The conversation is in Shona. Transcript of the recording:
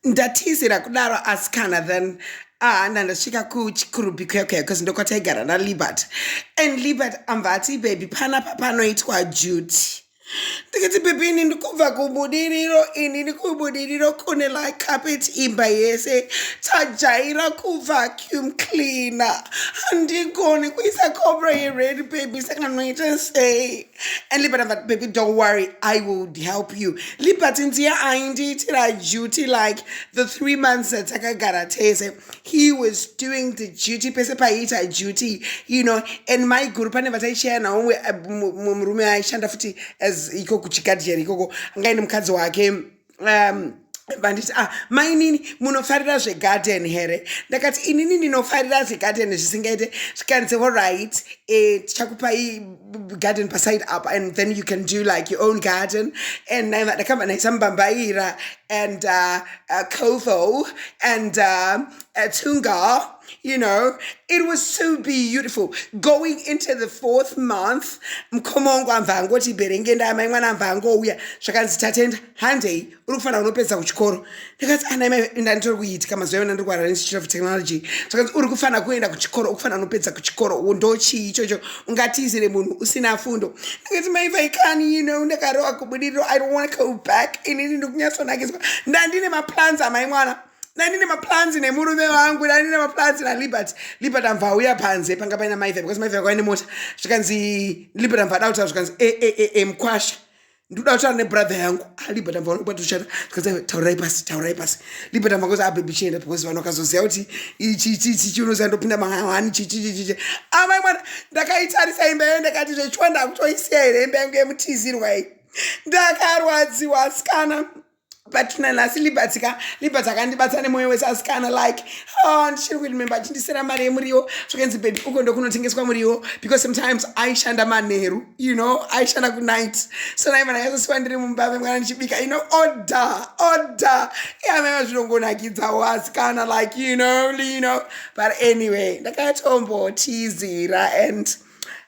Ndatizira kudaro asikana then ah ndandasvika kuchikurubhi kuya kuya because ndokwataigara nalibert and libert ambva ati baby panapa panoitwa duty ndikati baby ini ndikubva kubudiriro ini ndikubudiriro kune licarpet imba yese tajaira kuvacuum cleaner handigoni kuisa cobra yered baby saka noita sei And Liberty, but baby, don't worry, I will help you. Liberty, dear, I indeed a duty like the three months that Takagara Tese. He was doing the duty, pese paita duty, you know, and my guru pane vataichaya nawo murume aishanda futi as ikoko chikadhi here ikoko angaine mukadzi wake um, vanditi ah mainini munofarira zvegarden here ndakati inini ndinofarira zvegarden zvisingaite zvikanzi oright eh, tichakupai garden paside up and then you can do like your own garden and ndakabva ndaisa mbambaira and uh, uh, kotho and uh, uh, tunga you know it was so beautiful going into the fourth month mukoma wangu amva angoti berenge ndaamai mwana amva angouya zvakanzi tatenda handei uri kufanira unopedza kuchikoro ndikati anaimaidanditori kuitika mazuva yavana ndiri kuhara neinstitute of technology zvakanzi uri kufanira kuenda kuchikoro ukufanira unopedza kuchikoro ndochii ichocho ungatizire munhu usina fundo ndikati mai vaikani you know ndakarowa kubudiriro i don't want to go back inini ndikunyatsonakidzwa ndandine maplans amai mwana nani nemaplans nemurume wangu nani nemaplans naliberty liberty amva auya panze panga paina maive because maive akauya nemota zvikanzi liberty amva ada kutaura zvikanzi e e e e mkwasha ndikuda kutaura nebrother yangu ah, liberty amva vanokuba tichata zvikanzi taurai pasi taurai pasi liberty amva kozi abebi ah, chienda because vanhu vakazoziva kuti ichichichichi unoziva ndopinda mahani chichichichichi amai ah, mwana ndakaitarisa imba yayo ndakati zvechiwa ndakutoisiya here imba yangu yemutizirwa iyi ndakarwadziwa asikana patina nhasi libats ka libats akandibatsa nemwoyo wese asikana like oh, ndichiri kurememba achindisera mari yemuriwo zvakanzi bebi uko ndokunotengeswa muriwo because sometimes aishanda manheru you know aishanda kunight so naimana yaizosiwa ndiri mumba vemwana ndichibika you know order order iamaiva zvinongonakidzawo asikana like you know you know but anyway ndakatombotizira and